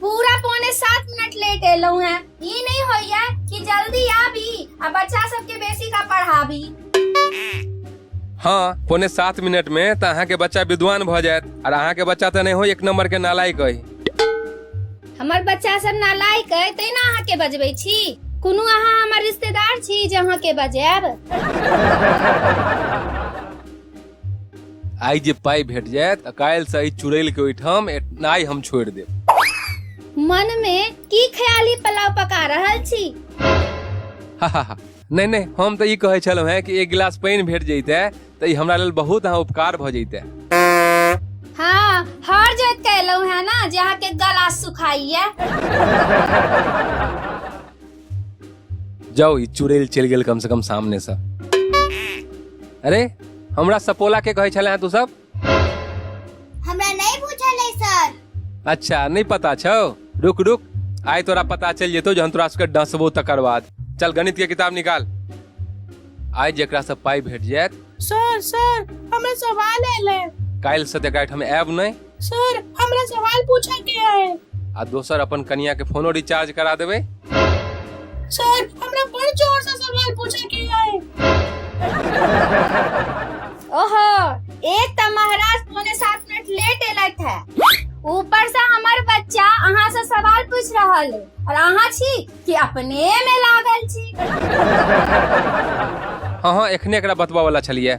पूरा पौने सात मिनट लेट एलौ हैं ई नहीं होइया कि जल्दी आबी आ बच्चा सबके बेसी का पढ़ाबी हाँ पौने सात मिनट में तो अहाँ के बच्चा विद्वान भ जायत और अहाँ के बच्चा तो नहीं हो एक नंबर के नालायक है हमर बच्चा सब नालायक है तै ना अहाँ के बजबै छी कोनो अहाँ हमर रिश्तेदार छी जे अहाँ के बजायब आइ जे पाइ भेट जायत तऽ काल्हिसँ एहि चुड़ैलके ओहिठाम एनाइ हम छोड़ि देब मन मे की ख्याली पुलाव पका रहल छी हा हा हा नहि नहि हम तऽ ई कहै छलहुँ हेँ कि एक गिलास पानि भेट जैते तऽ ई हमरा लेल बहुत अहाँ उपकार भऽ जैते हाँ हर जोत के एलहुँ है ना जे अहाँ के गला सुखाइए जाओ ई चुड़ैल चलि गेल कम से कम सामने से अरे हमरा सपोला के कहै छले हैं तू सब हमरा नहीं पूछल है सर अच्छा नहीं पता छौ रुक रुक आइ तोरा पता चल जेतौ जहन तोरा सबके डसबो तकर बाद चल गणित के किताब निकाल आइ जेकरा से पाइ भेट जायत सर सर हमें सवाल है काल्हि से तेकरा हम आयब नहि सर हमरा सवाल पूछे के है आ दोसर अपन कनिया के फोनो रिचार्ज करा देबे सर हमरा बड़ जोर से सवाल पूछे के है ओहो एक त महाराज पौने सात मिनट लेट एलत है ऊपर से हमर बच्चा अहाँ से सवाल पूछ रहल है और अहाँ छी कि अपने में लागल छी हाँ हाँ एखने एकरा बतबा वाला छलिए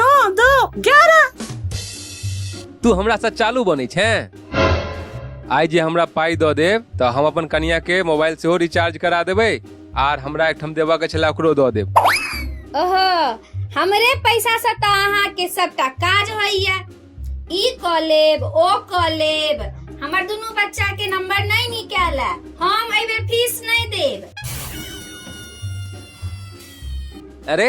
नौ दो ग्यारह तू हमरा से चालू बनै छै आइ जे हमरा पाइ दऽ देब तऽ हम अपन कनिया के मोबाइल सेहो रिचार्ज करा देबै आर हमरा एकठाम देबऽ के छलै ओकरो दऽ देब ओहो हमरे पैसा से तो अहाँ के सबटा काज होइया ई क लेब ओ क लेब हमर दुनू बच्चा के नंबर नहीं निकाल हम एहि बेर फीस नहीं देब अरे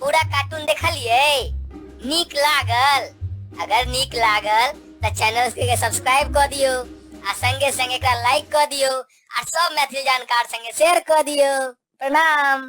पूरा कार्टून देखलिए नीक लागल अगर नीक लागल तो चैनल के सब्सक्राइब कर दियो आ संगे संगे एकरा लाइक कर दियो आ सब मैथिली जानकार संगे शेयर कर दियो प्रणाम